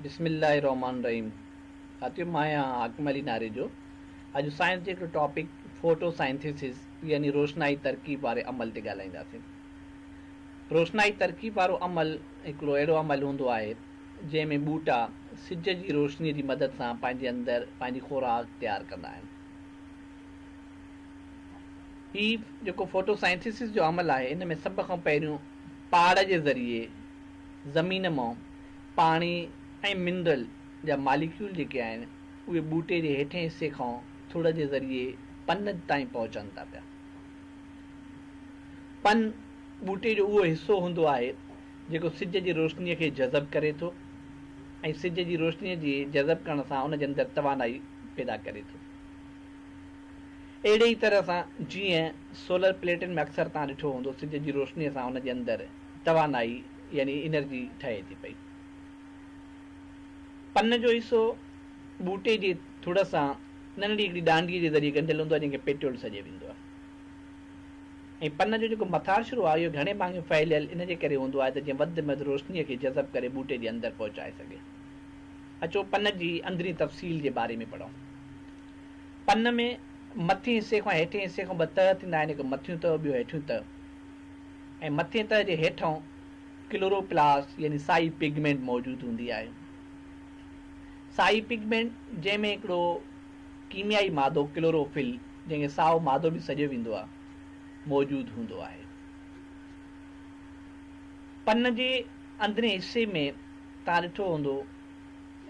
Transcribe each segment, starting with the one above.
بسم الله الرحمٰن الرحيم ساٿيو مان آهيان حاڪم علي ناريجو اڄ سائنس جي هڪڙي ٽاپڪ فوٽو سائنٿيسز يعني روشنائي ترڪيب واري عمل تي ڳالهائينداسين روشنائي ترڪيب وارو عمل هڪڙو اهڙو عمل هوندو آهي جنهن ۾ ٻوٽا سج جي روشني جي مدد سان پنهنجي اندر پنهنجي خوراڪ تيار ڪندا آهن هي جيڪو فوٽو سائنٿيسز جو عمل آهي ان ۾ سڀ کان پهريون پاڙ جي ذريعي زمين مئو پاڻي ۽ منرل جا ماليڪيول جيڪي آهن اهي ٻوٽي جي هيٺين حصي کان ٿڙ جي ذريعي پن تائين پهچن ٿا پيا. پن ٻوٽي جو اهو حصو هوندو آهي جيڪو سج جي روشني کي جذب ڪري ٿو ۽ سج جي روشني جي جذب ڪرڻ سان ان جي اندر توانائي پيدا ڪري ٿو. اهڙي ئي طرح سان جيئن سولر پليٽن ۾ اڪثر توهان ڏٺو هوندو سج جي روشني سان ان جي اندر توانائي يعني انرجي ٺهي ٿي پئي. پن جو حصو ٻوٽي جي ٿڙ سان ننڍڙي هڪڙي ڏانڊيء جي ذريعي ڳنڍيل هوندو آهي جنهن کي پيٽيول سڏيو ويندو آهي ۽ پن جو جيڪو مٿاڇرو آهي اهو گهڻي ڀاڱي ڦهليل ان جي ڪري هوندو آهي ته جيئن وڌ مهد روشنيء کي جذب ڪري ٻوٽي جي اندر پهچائي سگهي. اچو پن جي اندرين تفصيل جي باري ۾ پڙهون. پن ۾ مٿين حصي کان هيٺين حصي کان ٻه تهه ٿيندا آهن هڪ مٿيون تهه ٻيو هيٺيون تهه. ۽ مٿين تهه جي هيٺئون ڪلوروپلاسٽ يعني سائي پگمينٽ موجود هوندي آهي. سائي پگمينٽ جنهن ۾ هڪڙو ڪيميائي مادو ڪلوروفل جنهن کي سائو مادو به سڏيو ويندو آهي موجود هوندو آهي. پن جي اندرين حصي ۾ توهان ڏٺو هوندو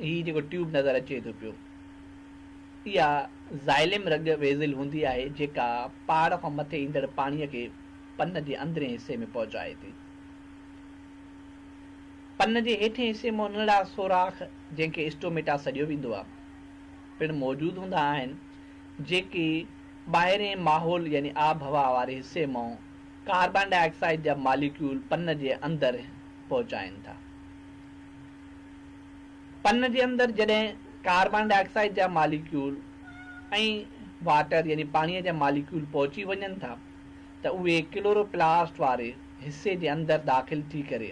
هي جيڪو ٽيوب نظر اچي ٿو پيو اها زائلم رڳ ويزل هوندي آهي جيڪا پهاڙ کان مٿي ايندڙ پاڻي کي پن جي اندرين حصي ۾ پهچائي ٿي. پن جي هيٺين حصي مان ننڍڙا سوراخ، جنهن کي اسٽوميٽا سڏيو ويندو آهي، پڻ موجود هوندا آهن، جيڪي ٻاهرئين ماحول يعني آبهوا واري حصي مان ڪاربان ڊاء آڪسائيڊ جا ماليڪيول پن جي اندر پهچائين ٿا. پن جي اندر جڏهن ڪاربان ڊاء آڪسائيڊ جا ماليڪيول ۽ واٽر يعني پاڻيء جا ماليڪيول پهچي وڃن ٿا، ته اهي ڪلوروپلاسٽ واري حصي جي اندر داخل ٿي ڪري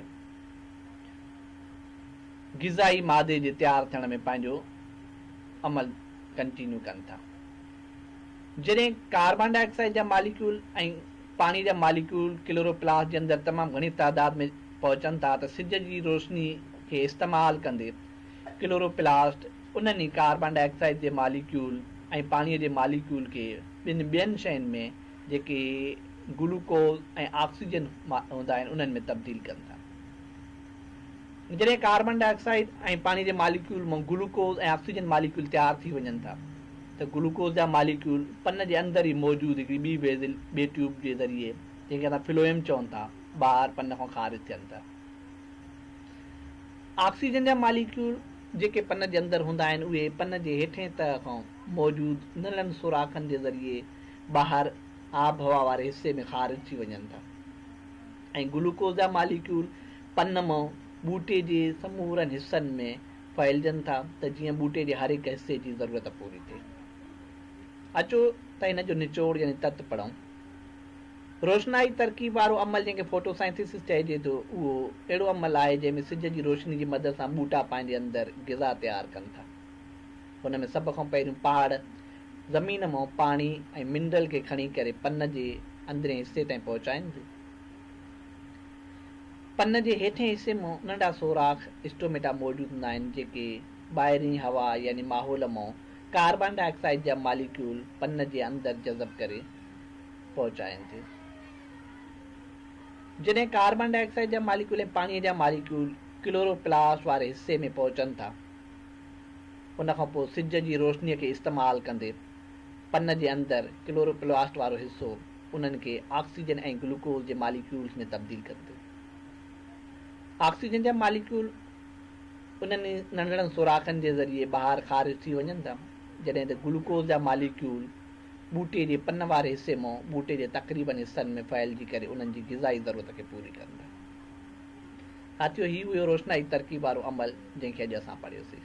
غذائي مادي جي تيار ٿيڻ ۾ پنهنجو عمل ڪنٽينيو ڪن ٿا. جڏهن ڪاربان ڊاء آڪسائيڊ جا ماليڪيول ۽ پاڻي جا ماليڪيول ڪلوروپلاسٽ جي اندر تمام گهڻي تعداد ۾ پهچن ٿا ته سج جي روشني کي استعمال ڪندي ڪلوروپلاسٽ انهن ئي ڪاربان ڊاء آڪسائيڊ جي ماليڪيول ۽ پاڻيء جي ماليڪيول کي ٻن ٻين شين ۾ جيڪي گلوڪوز ۽ آڪسيجن هوندا آهن انهن ۾ تبديل ڪن ٿا. جڏهن ڪاربان ڊاء آڪسائيڊ ۽ پاڻيء جي ماليڪيول مان گلوڪوز ۽ آڪسيجن ماليڪيول تيار ٿي وڃن ٿا ته گلوڪوز جا ماليڪيول پن جي اندر ئي موجود هڪڙي ٻي ويزل، ٻي ٽيوب، جي ذريعي جنهن کي اسان فلوئيم چون ٿا ٻاهر پن کان خارج ٿين ٿا. آڪسيجن جا ماليڪيول جيڪي پن جي اندر هوندا آهن اهي پن جي هيٺئين تهه کان موجود نلن سوراخن جي ذريعي ٻاهر آبهوا واري حصي ۾ خارج ٿي وڃن ٿا ۽ گلوڪوز جا ماليڪيول پن مان ٻوٽي جي سمورن حصن ۾ ڦهلجن ٿا ته جيئن ٻوٽي جي هر هڪ حصي جي ضرورت پوري ٿئي. اچو ته هن جو نچوڙ يعني تت پڙهون. روشنائي ترڪيب وارو عمل جنهن کي فوٽو سائنٿيسس چئجي ٿو اهو اهڙو عمل آهي جنهن ۾ سج جي روشني جي مدد سان ٻوٽا پنهنجي اندر غذا تيار ڪن ٿا ان ۾ سڀ کان پهريون پهاڙ زمين مان پاڻي ۽ منرل کي کڻي ڪري پن جي اندرين حصي تائين پهچائين ٿيون پن جي هيٺين حصي مان ننڍا سوراخ اسٽوميٽا موجود هوندا آهن جيڪي ٻاهرين هوا يعني ماحول مان ڪاربان ڊاء آڪسائيڊ جا ماليڪيول پن جي اندر جذب ڪري پهچائين ٿيون. جڏهن ڪاربان ڊاء آڪسائيڊ جا ماليڪيول ۽ پاڻيء جا ماليڪيول ڪلورو پلاسٽ واري حصي ۾ پهچن ٿا، ان کان پوء سج جي روشنيء کي استعمال ڪندي پن جي اندر ڪلورو پلاسٽ وارو حصو انهن کي آڪسيجن ۽ گلوڪوز جي ماليڪيولز ۾ تبديل ڪن ٿيون. آڪسيجن جا ماليڪيول انهن ئي ننڍڙن سوراخن جي ذريعي ٻاهر خارج ٿي وڃن ٿا، جڏهن ته گلوڪوز جا ماليڪيول ٻوٽي جي پن واري حصي مون ٻوٽي جي تقريبن حصن ۾ ڦهلجي ڪري انهن جي غذائي ضرورت کي پوري ڪن ٿا. ساٿيو هي اهو روشنائي ترڪيب وارو عمل جنهن کي اڄ اسان پڙهيوسي.